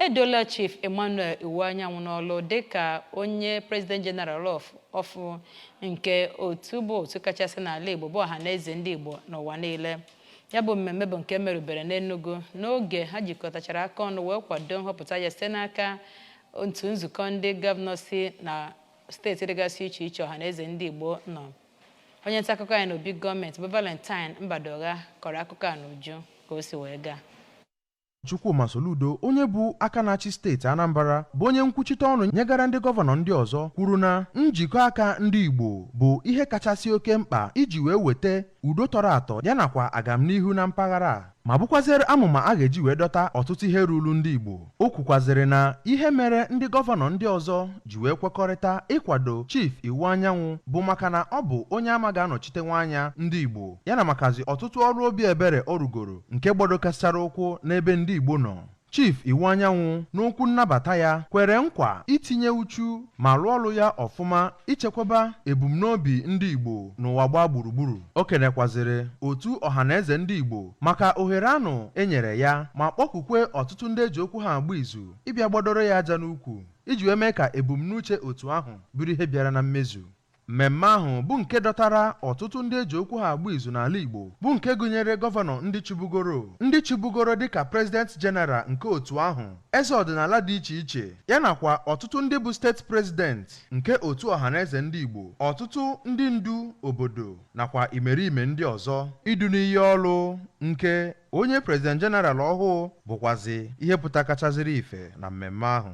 Edola Chief Emmanuel Iwuanyanwụ n'ọlụ dịka onye President General ọfụụ nke otu bụ otu kachasị n'ala Igbo bụ Ọhaneze ndị Igbo n'ụwa niile. Ya bụ mmemme bụ nke merubere n'Enugu n'oge ha jikọtachara aka ọnụ wee kwado nhọpụta ya site n'aka otu nzukọ ndị gọvanọ si na steeti dịgasị iche iche Ọhaneze ndị Igbo nọ. Onye nta akụkọ anyị n'obi gọọmenti bụ Valentine Mbadugha kọrọ akụkọ a n'uju ka o si wee gaa. Chukwuma Soludo onye bụ aka na-achị steeti Anambra bụ onye nkwuchite ọnụ nyegara ndị gọvanọ ndị ọzọ kwuru na njikọ aka ndị Igbo bụ ihe kachasị oke mkpa iji wee weta udo tọrọ atọ ya nakwa agamnihu na mpaghara a ma bụkwazịrị amụma a ga-eji wee dọta ọtụtụ ihe ruru ndị Igbo o kwukwazịrị na ihe mere ndị gọvanọ ndị ọzọ ji wee kwekọrịta ịkwado Chief Iwuanyanwụ bụ maka na ọ bụ onye a ma ga-anọchitenwu anya ndị Igbo ya na makazị ọtụtụ ọrụ obi ebere ọ rụgoro nke gbadokasịchara ụkwụ n'ebe ndị Igbo nọ Chief Iwuanyanwụ n'okwu nnabata ya kwere nkwa itinye uchu ma rụọ ọrụ ya ọfụma ichekwaba ebumnobi ndị Igbo n'ụwa gbaa gburugburu o kenekwazịrị otu ọhaneze ndị Igbo maka ohere anụ e nyere ya ma kpọkukwe ọtụtụ ndị e ji okwu ha agba izu ịbịa gbadoro ya aja n'ukwu iji wee mee ka ebumnuche otu ahụ bụrụ ihe bịara na mmezu Mmemme ahụ bụ nke dọtara ọtụtụ ndị e ji okwu ha agba izu n'ala Igbo bụ nke gụnyere gọvanọ ndị chịbugoro, ndị chịbugoro dịka President General nke otu ahụ, eze ọdịnala dị iche iche, ya nakwa ọtụtụ ndị bụ steeti president nke otu Ọhaneze Ndị Igbo, ọtụtụ ndị ndu obodo nakwa imerime ndị ọzọ. Idu n'iyi ọrụ nke onye President General ọhụụ bụkwazị ihe pụtakachazịrị ife na mmemme ahụ.